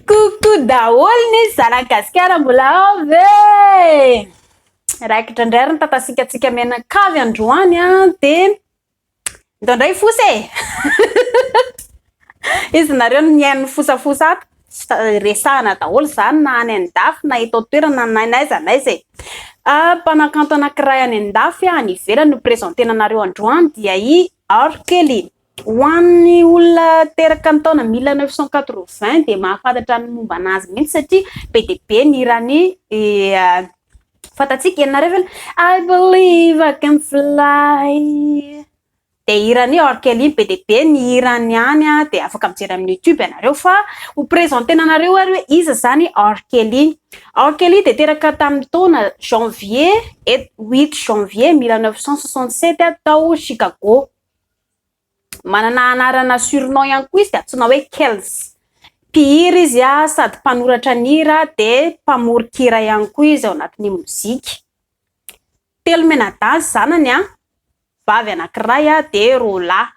Coucou daholo ny zanak'i Gasikara mbola ao ve? Raikitra indray ary ny tantasikantsika mianakavy androany an dia ndao indray fosa e! Izy nareo no mihaino fosafosa ato, resahana daholo izany na any an-dafy na eto an-toerana na n'aiza n'aiza e! Mpanakanto anankiray any an-dafy any ivelany no presentena anareo androany dia i Arkely. Ho an'ny olona teraka ny taona mille neuf cent quatre-vingts dia mahafantatra ny momba an'azy mihitsy satria be dia be ny hirany fantatsika ianareo ve ilay I believe I can fly dia hiran'i R Kelly be dia be ny hirany any dia afaka mijery amin'ny youtube ianareo fa ho presentena anareo ary hoe iza izany R Kelly R Kelly dia teraka tamin'ny taona janvier huit janvier mille neuf cent soixante-sept tao Chicago Manana anarana surnom ihany koa izy antsoina hoe Kells. Mpihira izy sady mpanoratra ny hira dia mpamoron-kira ihany koa izy ao anatin'ny mozika. Telo mianadahy ny zanany, vavy anankiray dia roa lahy.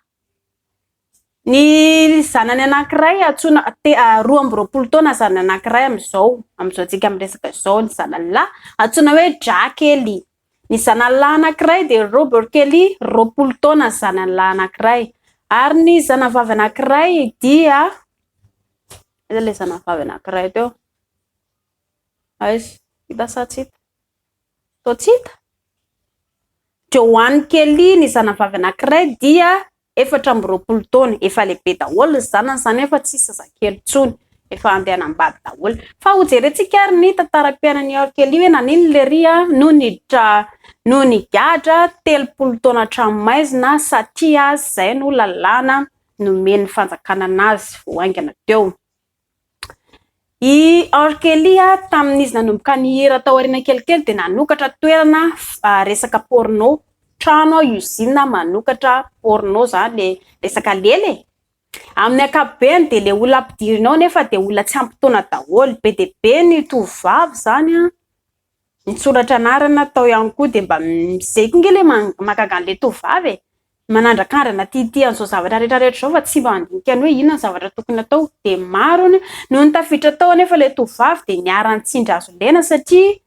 Ny zanany anankiray antsoina, roa amby roapolo taona ny zanany anankiray amin'izao, amin'izao antsika miresaka izao ny zanany lahy antsoina hoe Drakely. Ny zanany lahy anankiray dia Robert Kelly, roapolo taona ny zanany lahy anankiray. Ary ny zanavavy anankiray dia, aiza ilay zanavavy anankiray teo? Aiza? Hita sa tsy hita? Toa tsy hita? Joan Kelly ny zanavavy anankiray dia efatra amby roapolo taona, efa lehibe daholo ny zanany, izany hoe efa tsy zazakely intsony, efa andianam-bady daholo. Fa hojerentsika ary ny tantaram-piainan'i Iorkeli hoe naninona ilay ry a no niditra no nigadra telopolo taona an-tranomaizina satria izay no lalàna nomen'ny fanjakana anazy vao haingana teo. I R. Kelly, tamin'izy nanomboka nihira tao aoriana kelikely, dia nanokatra toerana resaka porno, trano usine manokatra porno izany ilay resaka lela e! Amin'ny ankapobeny dia ilay olona ampidirina ao anefa dia olona tsy ampy taona daholo, be dia be ny tovovavy izany an! Mitsoratra anarana tao ihany koa dia mba izay koa nge le mahagaga an'le tovovavy e! manandrakandrana aty hitia an'izao zavatra rehetra rehetra izao fa tsy mba mandinika ny hoe inona ny zavatra tokony atao dia maro anie noho ny tafiditra tao anefa ilay tovovavy dia niharan'ny tsindry azo lena satria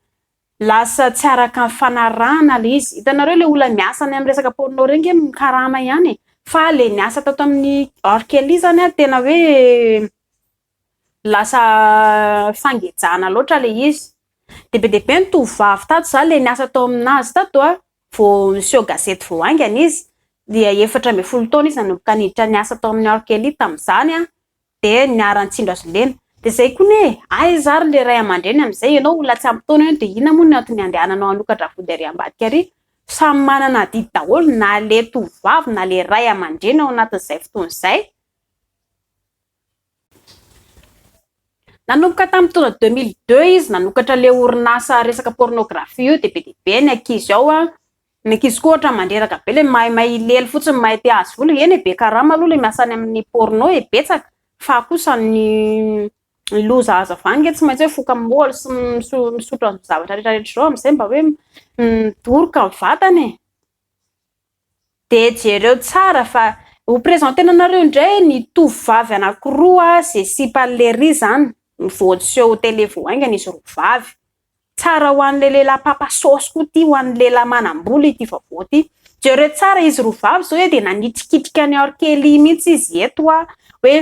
lasa tsy araka ny fanarahana ilay izy, hitanareo ilay olona miasa any amin'ny resaka porno ireny nge no karama ihany e! fa ilay niasa tato amin'ny R Kelly izany an tena hoe lasa fangejana loatra le izy de be de be ny tovovavy tato za le niasa tao aminazy tato a vo niseho gazety vo haingana izy dia efatra ambin'ny folo taona izy nanomboka niditra niasa tao amin'ny orkelly tamizany a de niara nitsindro azy lena de zay koa ne aiza ary le ray amandreny amizay enao olona tsy ampy taona eo de inona moa ny antony andehananao hanokatra vody ary ambadika ary samy manana adidy daholo na le tovovavy na le ray amandreny ao anatin'izay fotoana izay Nanomboka tamin'ny taona deux mille deux izy nanokatra le orinasa resaka pornographie io dia be dia be ny ankizy ao an, ny ankizy koa ohatra mandreraka be le mahay mahay hilely fotsiny mahay te hahazo vola, eny e be karama aloha le miasa any amin'ny porno e, betsaka fa kosa ny loza hazava any nge tsy maintsy hoe mifoka amin'ny moly sy misotra zavatra rehetra rehetra zao amzay mba hoe midoroka ny vatana e. De jereo tsara fa ho presentena anareo indray ny tovovavy anakiroa ze sipa lery zany vao seho tele vao haingana izy roa vavy. Tsara ho anle lehilahy papa saosy koa ty ho an'ny lehilahy manambola ity vaovao ty. Jereo tsara izy roa vavy zao e de nanitrikitrika an'i R Kelly mintsy izy eto a hoe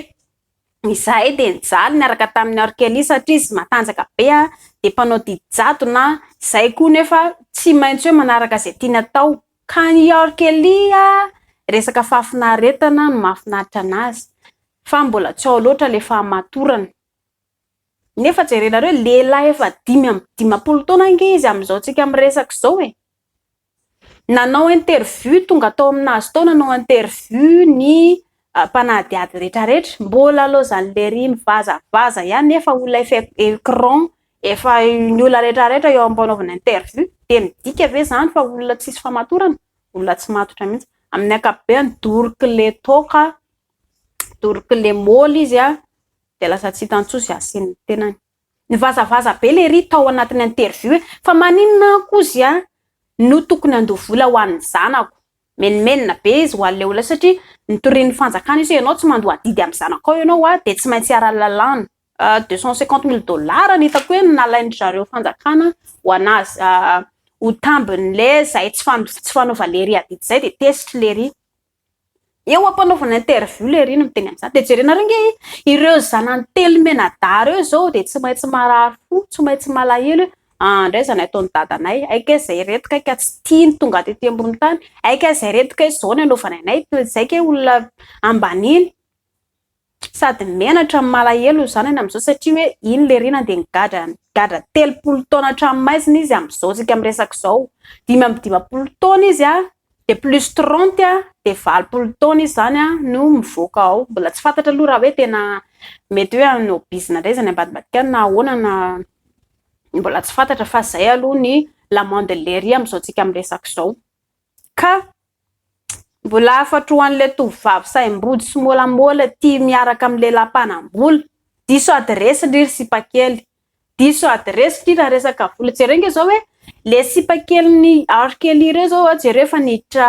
izahay de nijaly niaraka tamin'i R Kelly satria izy matanjaka be a de mpanao didy jadona a, zay koa nefa tsy maintsy hoe manaraka ze tiany atao Ka ny R Kelly a, resaka fahafinaretana no mahafinaritra anazy fa mbola tsy ao loatra le fahamatorana. Nefa jerenareo e, lehilahy efa dimy amby dimampolo taona ange izy amin'izao tsika miresaka izao e. Nanao interview, tonga tao aminazy tao nanao interview ny mpanadihady retraretra, mbola laozan'i Lery mivazavaza ihany nefa olona efa ecran Efa ny olona rehetra rehetra eo ampanaovana interview dia midika ve izany fa olona tsisy famatorana? Olona tsy matotra mihitsy. Amin'ny ankapobeny doroky le toaka, doroky le moly izy a, dia lasa tsy hitan'ny tsosy asian'ny tenany. Nivazavaza be lery tao anatin'ny interview e! Fa maninona aho kozy a no tokony handoa vola ho an'ny zanako? Menomenona be izy ho an'le olona satria notorian'ny fanjakana izy hoe ianao tsy mandoa adidy amin'ny zanakao ianao a dia tsy maintsy hiara-lalàna. Deux cent cinquante mille dollars no hitako hoe nalain-dry zareo fanjakana ho an'azy. Ho tambin'le zay tsy tsy fanova lery adidy zay de tezitry lery. Eo ampanaovana interview lery no miteny an'izany. De jerenareo nge ireo zanany telo mianadahy reo izao de tsy maintsy marary fo, tsy maintsy malahelo hoe ah ndray zany ataon'i dadanay, hay kay zay reto kay ka tsy tia ny tonga tety ambony tany, hay kay zay reto kay zao ny anaovanay anay, zay kay olona ambaniny. Sady menatra no malahelo ry zanany amin'izao satria hoe iny le rinany dia nigadra nigadra telopolo taona hatramin'ny maizina izy amin'izao tsika miresaka izao dimy amby dimampolo taona izy a dia plus trente a dia valopolo taona izy izany a no mivoaka ao mbola tsy fantatra aloha raha hoe tena mety hoe hanao bizina indray izany ambadimbadika any na ahoana na mbola tsy fantatra fa izay aloha ny la monde lery amin'izao tsika miresaka izao Ka mbola hafatro ho an'ilay tovovavy sahim-body sy môlamôla tia miaraka amin'ny lehilahy mpanam-bola. Diso adiresy ndry ry sipakely. Diso adiresy ndry raha resaka vola. Jereo ange izao hoe le sipakelin'i R Kelly ireo izao a, jereo efa niditra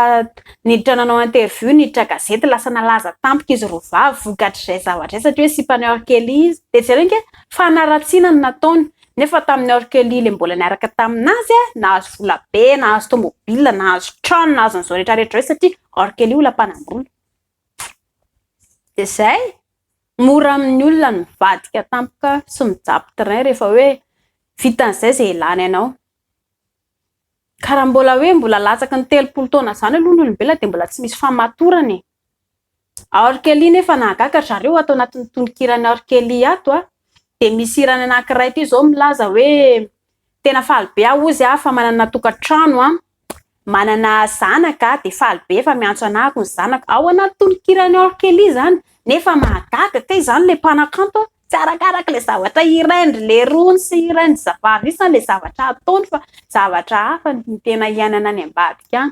niditra nanao interview, niditra gazety, lasa nalaza tampoka izy roa vavy vokatr'izay zavatra izay satria hoe sipan'i R Kelly izy. Dia jereo ange fanaratsiana no nataony. Nefa tamin'ny âge kely le mbola niaraka tamin'azy, nahazo vola be, nahazo tomobile, nahazo trano, nahazo an'izao rehetra rehetra izao satria âge kely olona mpanam-bola. Dia izay, mora amin'ny olona ny mivadika tampoka sy mijapy train rehefa hoe vitan'izay izay ilana ianao. Ka raha mbola hoe mbola latsaky ny telopolo taona izany aloha ny olombelona dia mbola tsy misy famatorana e. A R Kelly nefa nahagaga ry zareo ato anatin'ny tononkiran'i R Kelly ato a dia misy hirany anankiray ity izao milaza hoe tena faly be aho hozy a fa manana tokantrano a manana zanaka a dia faly be fa miantso anah ako ny zanako ao anaty tononkiran'i R Kelly izany nefa mahagaga kay izany ilay mpanakanto a Tsy arakaraka ilay zavatra irainy ry lerony sy irainy ry zaparisany ilay zavatra ataony fa zavatra hafa ny tena iainana any ambadika any.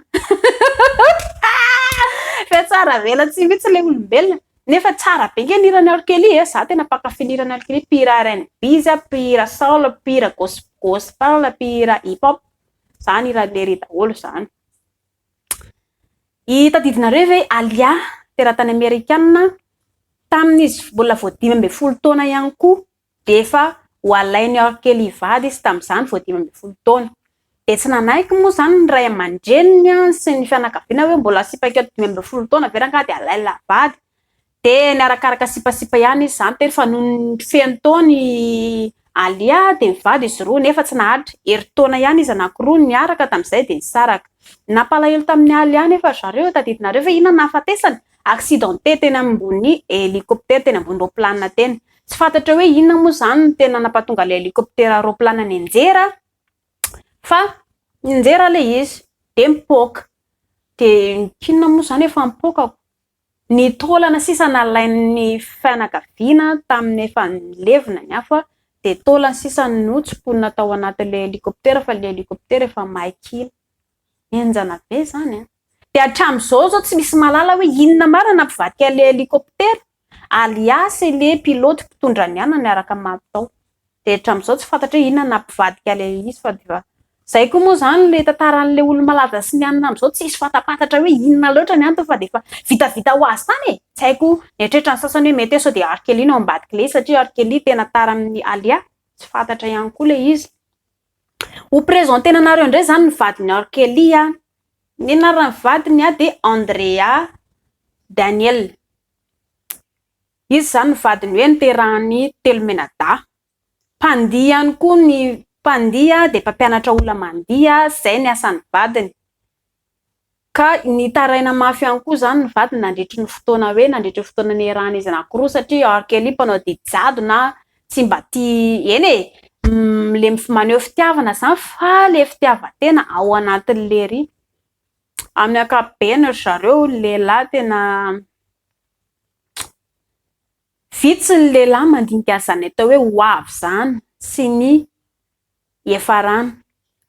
Fa tsara avelatsihy mihitsy ilay olombelona. Nefa tsara be nge ny hiran'i Arkely e, za tena mpankafy ny hiran'i Arkely, mpihira RNB izy a, mpihira soul, mpihira gospel, mpihira hip hop, zany hiran'i Lery daholo zany. I tadivinareo ve Alia, teratany amerikana, tamin' izy mbola vao dimy ambin'ny folo taona ihany koa dia efa ho alain' i Orkel hivady izy tamin' izany vao dimy ambin'ny folo taona. Dia tsy nanaiky moa izany ny ray aman-dreniny sy ny fianakaviana hoe mbola sipa kely dimy ambin'ny folo taona ve rangahy dia alain-la vady. Dia niarakaraka sipasipa ihany izy izany tery fa nony feno taona i Alia dia mivady izy roa nefa tsy naharitra, herintaona ihany izy anankiroa no niaraka tamin'izay dia nisaraka. Nampalahelo tamin'i Alia anefa ry zareo eo tadidinareo ve inona no nahafatesany? Accidenté teny ambony hélicoptère teny ambony roplanina teny. Tsy fantatra hoe inona moa izany no tena nampatonga ilay hélicoptère roplanina nianjera fa nianjera ilay izy dia mipoaka. Dia inona moa izany efa mipoaka ko? Ny taolana sisa nalain'ny fianakaviana tamin'ny efa nilevina ny afo dia taolana sisa notsimponina tao anatin'ilay helikoptera fa ilay helikoptera efa maika iny. Henjana be izany an! Dia hatramin'izao izao tsy misy mahalala hoe inona marina nampivadika an'ilay helikoptera alias ilay pilote mpitondra ny anany araka ny mampitao. dia hatramin'izao tsy fantatra hoe inona no nampivadika an'ilay izy fa dia izay koa moa izany ilay tantaran'ilay olo-malaza sy ny anona amin'izao tsy misy fantapantatra hoe inona loatra ny antony fa dia efa vitavita ho azy tany e! tsy haiko nieritreritra ny sasany hoe mety hoe sao dia R. Kelly no ao ambadik'ilay izy satria R. Kelly tena tara amin'ny Alia tsy fantatra ihany koa ilay izy. Ho presenter-na anareo indray izany ny vadin'i R. Kelly an! ny anaran'ny vadiny dia Andrea Daniel. Izy izany ny vadiny hoe niterahan'i Telomenadaha. Mpandihy ihany koa ny mpandihy dia mpampianatra olona mandihy, izay ny asan'ny vadiny. Ka nitaraina mafy ihany koa izany ny vadiny nandritry ny fotoana hoe nandritry ny fotoana niherahan'izy anankiroa satria R Kelly mpanao didy jadona tsy mba tia eny e! le maneho fitiavana izany fa le fitiavan-tena ao anatin'ny lery. Amin'ny ankapobeny ry zareo ny lehilahy tena. Vitsy ny lehilahy mandinika an'izany atao hoe ho avy izany sy ny hiafaràna.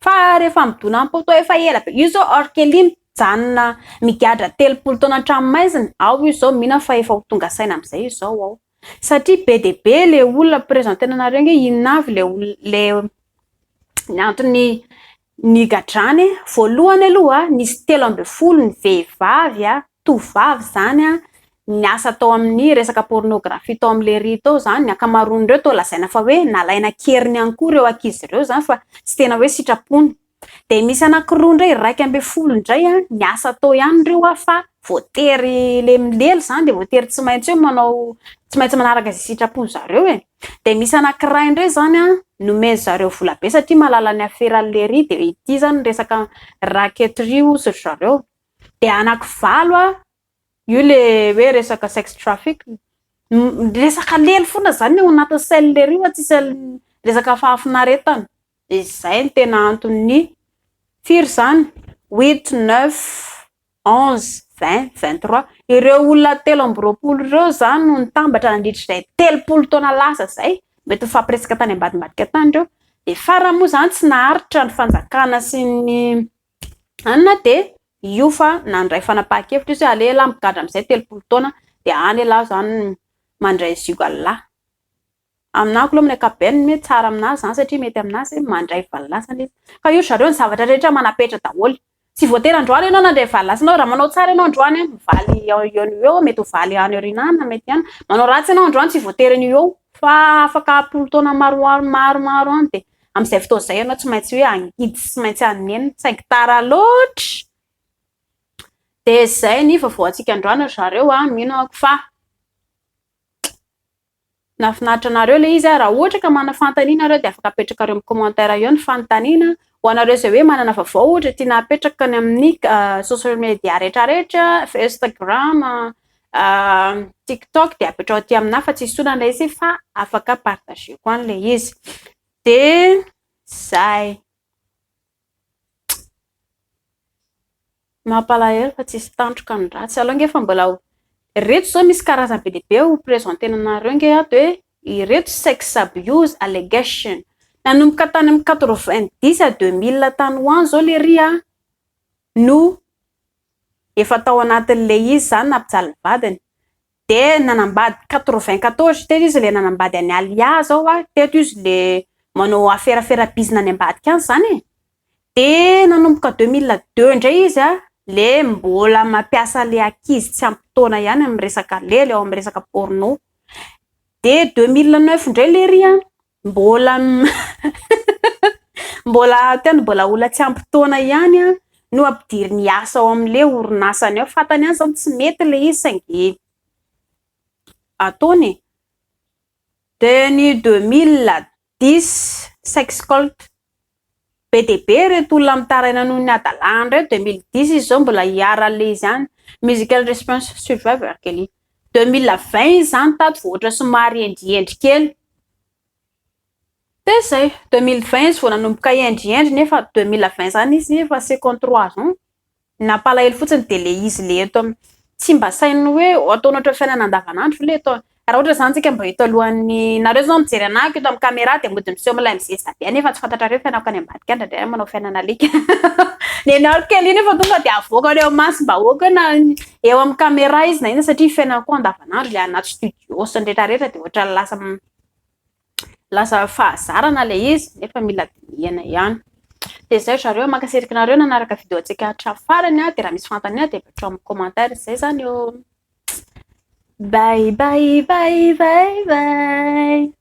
Fa rehefa midona am-po toa efa ela be. Io izao R Kelly mijanona migadra telopolo taona an-tranomaizina, ao io izao mino aho fa efa ho tonga saina amin'izay izao ao. Satria be dia be ilay olona, mi-presenter-na anareo ange hoe inona avy ilay olona, ilay ny anton'ny Ny gadrany, voalohany aloha nisy telo ambin'ny folo ny vehivavy, tovovavy izany, niasa tao amin'ny resaka pornographie tao amin'ny lery tao izany, ny ankamaroan'ireo toa lazaina fa hoe nalaina an-keriny ihany koa ireo ankizy ireo izany fa tsy tena hoe sitrapony. Dia misy anankiroa indray iraika ambin'ny folo indray niasa tao ihany ireo fa voatery lemilely izany dia voatery tsy maintsy hoe manao, tsy maintsy manaraka izay sitrapon'ny zareo e. Dia misy anankiray indray izany an, nomen-dry zareo vola be satria mahalala ny aferan'i Lery, dia ity izany ny resaka raquetterie hozy ry zareo. Dia anakivalo an, io le hoe resaka sex traffic, resaka lelo foana izany ny ao anatin'ny sain'i Lery fa tsy sain'i, resaka fahafinaretana. Dia izay no tena anton'ny, firy izany? Huit, neuf. onze, vingt, vingt trois, ireo olona telo amby roapolo ireo izany no nitambatra nandritra izay telopolo taona lasa izay, mety ho nifampiresaka tany ambadimbadika tany ireo, dia farany moa izany tsy naharitra ny fanjakana sy ny anona dia io fa nandray fanapahan-kevitra izy hoe aleo ialahy migadra amin'izay telopolo taona dia any ialahy izany mandray zioga lahy. Aminako aloha amin'ny ankapobeny mety tsara amin'azy izany satria mety amin'azy mandray valo lasana izy. Fa io ry zareo ny zavatra rehetra manapetra daholo. Tsy voatery androany ianao nandray valo lasana eo, raha manao tsara ianao androany an, mivaly eo ho eo, mety ho valy any aoriana any na mety ihany. Manao ratsy ianao androany tsy voatery an'io eo fa afaka ampolo taona maroaro maromaro any dia amin'izay fotoana izay ianao tsy maintsy hoe hangidy sy tsy maintsy hanenina saingy tara loatra. Dia izay ny vaovao antsika androany ry zareo an, mino aho fa. Nahafinaritra anareo ilay izy a! Raha ohatra ka manana fanontaniana nareo dia afaka apetrakareo amin'ny commentaire eo ny fanontaniana. Ho anareo izay hoe manana vaovao ohatra tiana hapetraka any amin'ny social media rehetra rehetra, Instagram, tiktok dia apetraho aty aminà fa tsisy olana ilay izy fa afaka partageko any ilay izy. Dia izay. Mampalahelo fa tsisy tandroka ny ratsy. Aleo ange fa mbola ho ireto izao misy karazany be dia be ho presentena anareo ange ato hoe ireto sex abuse allegation. Nanomboka tany amin'ny quatre vingt dix à deux mille tany ho any izao lery no efa tao anatin'ilay izy izany nampijaly ny vadiny. dia nanambady quatre-vingt-quatorze teto izy le nanambady an'i Alia zao a, teto izy le manao aferafera bizina any ambadika any zany e, dia nanomboka deux mille deux indray izy a le mbola mampiasa le ankizy tsy ampy taona ihany amin'ny resaka lely ao amin'ny resaka porno, dia deux mille neuf indray lery a Mbola mbola ato ihany, mbola olona tsy ampy taona ihany no ampidiriny hiasa ao amin'ilay orinasany ao. Fantany ihany izany tsy mety ilay izy saingy ataony e. Dia ny deux mille dix, sexcolt, Be dia be ireto olona mitaraina noho ny hadalàhany ireto, deux mille dix izy zao mbola hiara le izy any, musical response survivor R Kelly. Deux mille vingt izy zany tato vao ohatra somary hendrihendry kely, dia zay, deux mille vingt izy vao nanomboka hendrihendry nefa deux mille vingt zany izy efa second trois ans. Ny nampalahelo fotsiny dia le izy le eto am tsy mba saino hoe ataonao ohatran'ny fiainana andavanandro ve le eto an? Raha ohatra zany tsika mba eto alohan'ny nareo zao mijery anahako eto am camera dia mody miseho milay mizesta be any efa tsy fantatrareo fiainako any ambadika any ndraindray manao fiainana alika nenaro kely iny efa tonga dia avoaka any am maso bahoaka na eo am camera izy na inona satria fiainana koa andavanandro le anaty studio sy ny retraretra dia ohatran'ny lasa Milaza fahazarana ilay izy nefa mila dinihana ihany. Dia izay ry zareo, mankasiraka anareo nanaraka video antsika hatramin'ny farany. Dia raha misy fanontaniana dia apetrao amin'ny commentaire. Izay izany ô! Bye bye bye bye bye!